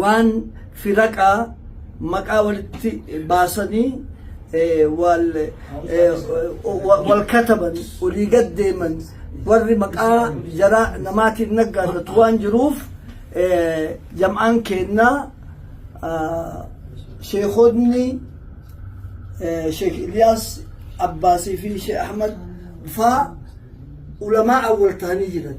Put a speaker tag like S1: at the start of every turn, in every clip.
S1: waan firaqaa maqaa walitti baasanii wal wal kataban olii gad deeman warri maqaa jara namaatiin naggaadhatu waan jiruuf jam'aan keennaa sheekonni sheek Iliyaas Abbaasii fi sheek Ahmad faa ulamaa awwal ta'anii jiran.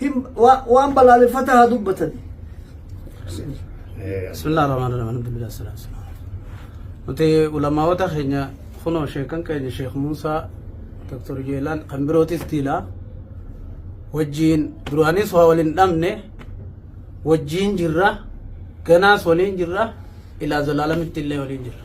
S1: Hin wa- waan balaaleffataa haa dubbatani. Bismillah
S2: ar-Rahman ar-Rahim. Alhamdulillah salatu wassalamu. Nuti ulamaawota keenya kunoo sheekan keenya Sheekh Muusaa Dr. Jeelaan kan birootis tiilaa wajjiin duraanis waa waliin dhabne wajjiin jirra ganaas waliin jirra ilaa zalaalamitti illee waliin jirra.